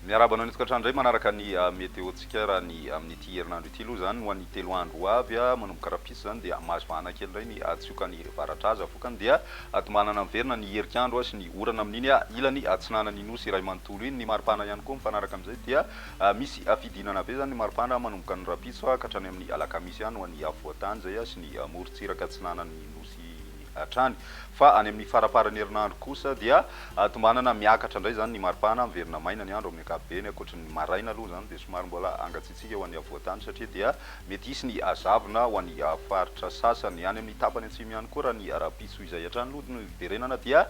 Miarahaba anao indray tokantrano indray manaraka ny ah, météo-tsika raha ny amin'ity herinandro ity aloha izany ho an'ny telo andro ho avy ah, manomboka rahampitso izany dia mahazo vahana kely indray ny ah, tsioka any varatra aza vokany dia ah, tombanana miverina ny herik'andro ah, sy ny orana amin'iny ah, ilany atsinanan'ny Nosy iray manontolo iny, ny maripana ihany koa mifanaraka amin'izay dia Misy fidinana be izany ny maripana manomboka ny rahampitso ka hatrany amin'ny alakamisy any ho an'ny afovoan-tany izay sy ny morontsiraka atsinanan'ny nosy hatrany. Fa any amin'ny faramparan'ny herinandro kosa dia tombanana miakatra indray izany ny maripana, miverina maina ny andro amin'ny ankapobeny, ankoatry ny maraina aloha izany dia somary mbola hangatsiatsiaka ho an'ny afovoan-tany satria dia Mety hisy ny hazavona ho an'ny faritra sasany. Any amin'ny tapany atsimo ihany koa, raha ny rahampitso izay hatrany aloha no hiverenana, dia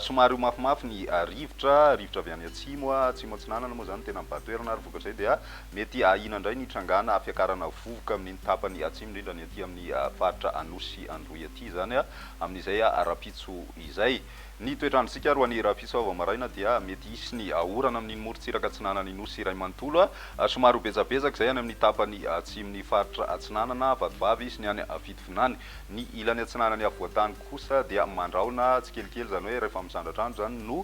somary ho mafimafy ny rivotra, rivotra avy any atsimo, atsimo atsinanana moa izany no tena mibahan toerana, ary vokatr'izay dia mety ahiana indray ny hitrangana fiakarana vovoka amin'iny tapany atsimo indrindra ny aty amin'ny faritra Anosy sy Androy aty izany, amin'izay rahampitso izay. Ny toetr'androntsika ary ho an'i Rahafisoa vao maraina dia mety hisy ny orana amin'iny morontsiraka atsinanan'ny Nosy iray manontolo, somary ho betsabetsaka izay any amin'ny tapany atsimon'ny faritra atsinanana, vatovavy, sy ny any fitovinany. Ny ilany atsinanan'ny afovoan-tany kosa dia mandrahona tsikelikely, izany hoe rehefa misandratra andro izany no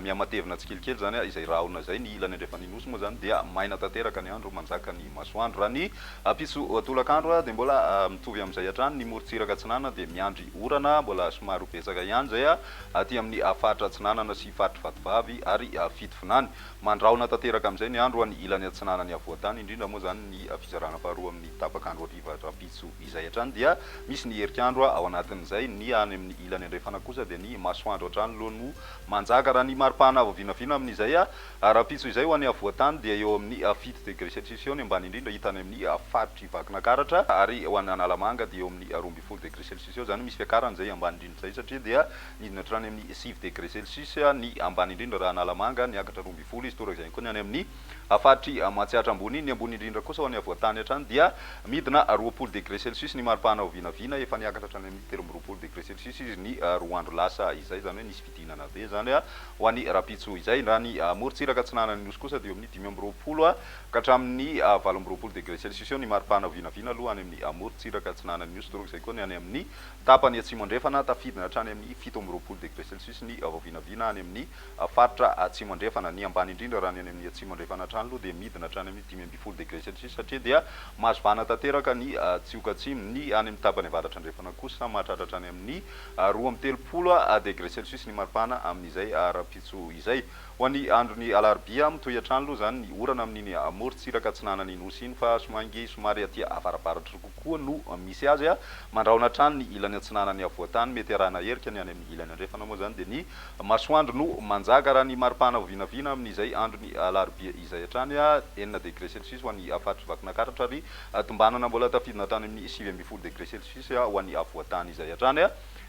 mihamatevina tsikelikely izany izay rahona izay. Ny ilany andrefan'ny Nosy moa izany dia maina tanteraka ny andro, manjaka ny masoandro raha ny. Apiso tolakandro dia mbola mitovy amin'izay hatrany ny morontsiraka atsinanana dia miandry orana mbola somary ho betsaka ihany izay aty amin'ny faritra atsinanana sy faritry Vatovavy ary Fitovinany. Mandrahona tanteraka amin'izay ny andro any ilany atsinanan'ny Afovoantany indrindra moa izany ny fizarana faharoa amin'ny tapak'andro hariva rahampitso izay hatrany dia misy ny herik'andro ao anatin'izay. Ny any amin'ny ilany andrefana kosa dia ny masoandro hatrany loha no manjaka raha ny maripana avo vinavina amin'izay Ary rahampitso izay ho any afovoan-tany dia eo amin'ny fito degre celsius eo ny ambany indrindra hita any amin'ny faritr'i Vakinakaratra ary ho any Analamanga dia eo amin'ny roa ambin'ny folo degre celsius eo izany misy fiakarany izay ambany indrindra izay satria dia nidina hatrany amin'ny sivy degre celsius ny ambany indrindra raha Analamanga niakatra roa ambin'ny folo izy torak'izay ihany koa ny any amin'ny faritr'i Matsiatra Ambony, ny ambony indrindra kosa ho any afovoan-tany hatrany dia midina roapolo degre celsius ny maripana ho vinavina efa niakatra hatrany amin'ny telo amby roapolo degre celsius izy ny roa andro lasa izay izany hoe nisy fifidianana be izany ho an'i Rampitso izay. Raha ny morontsiraka atsinanan'ny Nosy kosa dia eo amin'ny dimy amby roapolo ka hatramin'ny valo amby roapolo degré celsius eo ny maripana vinavina aloha any amin'ny morontsiraka atsinanan'ny Nosy torak'izay koa ny any amin'ny tapany atsimo andrefana. Tafidina hatrany amin'ny fito amby roapolo degré celsius ny vinavina any amin'ny faritra atsimo andrefana. Ny ambany indrindra raha ny any amin'ny atsimo andrefana hatrany aloha dia midina hatrany amin'ny dimy ambin'ny folo degré celsius satria dia mazivana tanteraka ny tsioka atsimo. Ny any amin'ny tapany avaratra andrefana kosa mahatratra hatrany amin'ny. roa amby telopolo degre celsius ny maripana amin'izay rahampitso izay. Ho an'ny andron'ny alarobia, mitohy hatrany aloha izany ny orana amin'iny morontsiraka atsinanan'ny Nosy iny fa soangy somary aty avaravaratry kokoa no misy azy mandrahona hatrany ny ilany atsinanan'ny afovoantany. Mety arahina herika ny any amin'ny ilany andrefana moa izany dia ny masoandro no manjaka raha ny maripana vinavina amin'izay andron'ny alarobia izay hatrany enina degre celsius ho an'ny faritry Vakinakaratra ary tombanana mbola tafidina hatrany amin'ny sivy ambin'ny folo degre Sisy ho an'ny Avoatany izay hatrany.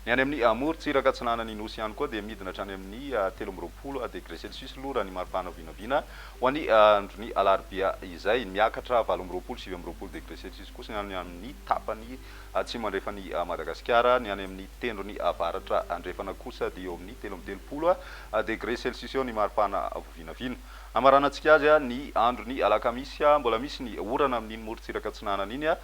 Ny any amin'ny morontsiraka atsinanan'ny Nosy ihany koa dia midina hatrany amin'ny telo amby roapolo degre celsius aloha raha ny maripana vinavina ho an'ny andron'ny alarobia izay. Miakatra valo amby roapolo, sivy amby roapolo degre celsius kosa ny any amin'ny tapany atsimo andrefan'i Madagasikara. Ny any amin'ny tendrony avaratra andrefana kosa dia eo amin'ny telo amby telopolo degre celsius eo ny maripana vinavina. Hamaranantsika azy ny andron'ny alakamisy. Mbola misy ny orana amin'iny morontsiraka atsinanana iny.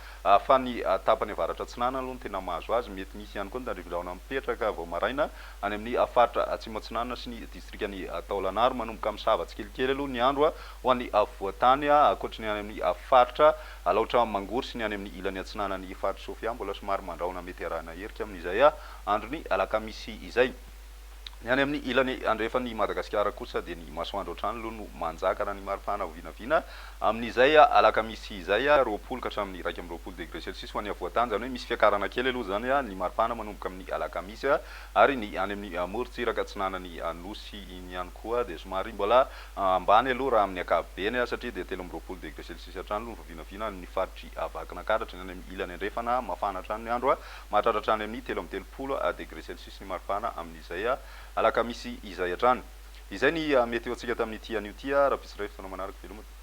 Fa ny tapany avaratra atsinanana aloha no tena mahazo azy. Mety misy ihany koa ny tandrifindrahona mipetraka vao maraina any amin'ny faritra Atsimo Atsinanana sy ny distrikan'i Taolana ary manomboka misava tsikelikely aloha ny andro ho an'ny afovoan-tany ankoatry ny any amin'ny faritra Alaotra Mangoro sy ny any amin'ny ilany atsinanan'i Faritra Sofia mbola somary mandrahona mety arahina erika amin'izay andron'ny alakamisy izay. Ny any amin'ny ilany andrefan'i Madagasikara kosa dia ny masoandro hatrany aloha no manjaka raha ny maripana vinavina amin'izay alakamisy izay, roapolo ka hatramin'ny iraika amby roapolo degré celsius ho an'ny afovoan-tany, izany hoe misy fiakarana kely aloha izany ny maripana manomboka amin'ny alakamisy ary ny any amin'ny morontsiraka atsinanan'ny Nosy iny ihany koa dia somary mbola ambany aloha raha amin'ny ankapobeny satria dia telo amby roapolo degré celsius hatrany aloha ny vinavina any amin'ny faritry Vakinankaratra, ny any amin'ny ilany andrefana mafana hatrany ny andro mahatratra hatrany amin'ny telo amby telopolo degré celsius. sy maripana amin'izay alakamisy izay hatrany. Izay ny mety ho antsika tamin'ity anio ity ary ampitsiray fotoana manaraka veloma tompoko.